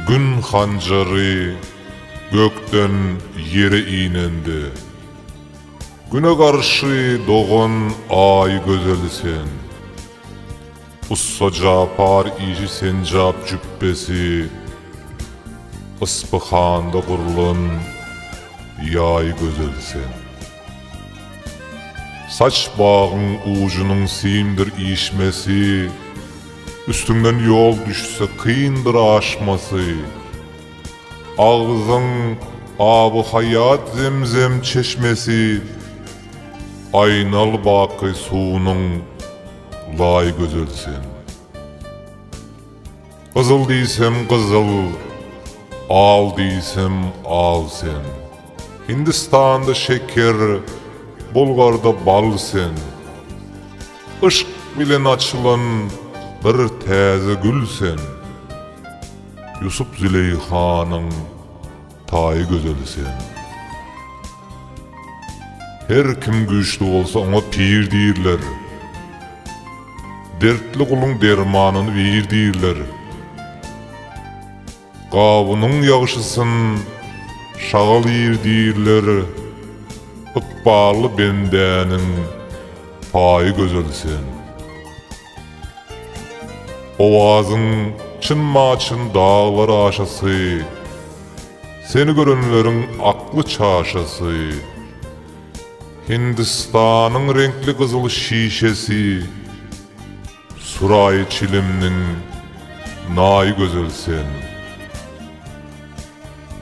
Gün hanjary gökden ýere inende. Güne garşy dogan Aý gözeli sen. Ussa Japar işi senjap jüpbesi Yspyhanda gurlan Ýaý gözeli sen. Saç bagyň ujunyň simdir işmesi, Üstüňden ýol düşse kyndyr aşmasy. Agzyň aby haýat zemzem çeşmesi, Aýnal baky suwunyň laý gözel sen. Gyzyl diýsem gyzyl, al diýsem al sen. Hindistanda şeker, Bulgarda bal sen. Yşk bilen açylan bir täze gül sen. Ýusup-Züleýhanyň. Taýy gözeli sen. Her kim güýçli bolsa oňa pir diýirler. Dertli guluň dermanyny bir diýirler. Gawunyň ýagşysyn şagal iýr diýirler. Ykbally bendäniň paýy gözel sen. Owazyň çyn-maçyn daglar aşasy, Seni görenleriň akly çaşasy. Hindistanyň reňkli gyzyl şişesi, Suraýy çilimniň naýy gözel sen.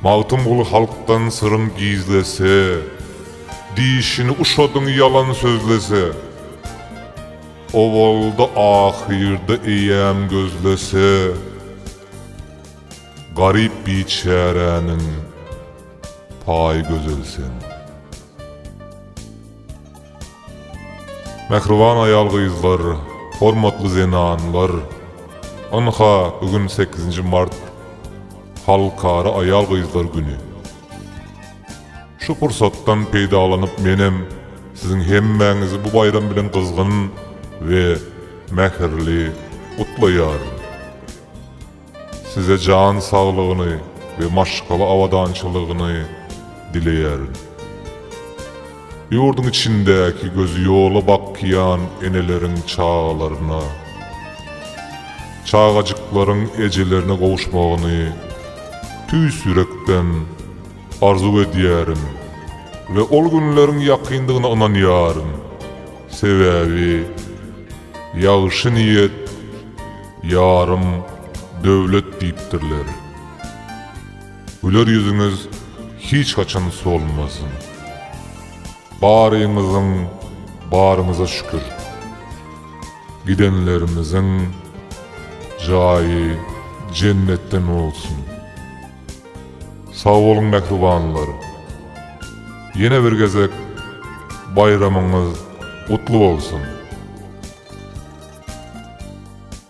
Magtymguly halkdan syryn gizlese, Dişini uşadyň ýalan sözlese. Owalda-ahyrda eýäm gözlese, Garyp biçäräniň paýy gözel sen. Mähriban aýal-gyzlar, hormatly zenanlar! Ynha, bu gün sekizinji mart, Halkara aýal-gyzlar güni. Şu pursatdan peýdalanyp menem siziň hemmäňizi bu baýram bilen gyzgyn we mähirli gutlaýaryn. Size jan saglygyny we maşgala abadançylygyny dileýärin. Ýurduň içindäki gözi ýola bakýan eneleriň çagalaryna, çagajyklaryň ejelerine gowuşmagyny tüýs ýürekden arzuw edýärin we ol günleriň ýakyndygyna ynanýaryn, sebäbi Ýagşy niýet ýarym döwlet diýipdirler. Güler ýüzüňiz hiç haçan solmasyn. Baryňyzyň baryňyza şükür. Gidenlerimiziň jaýy jennetden bolsun. Sag boluň mähribanlar. Ýene bir gezek baýramyňyz gutly bolsun.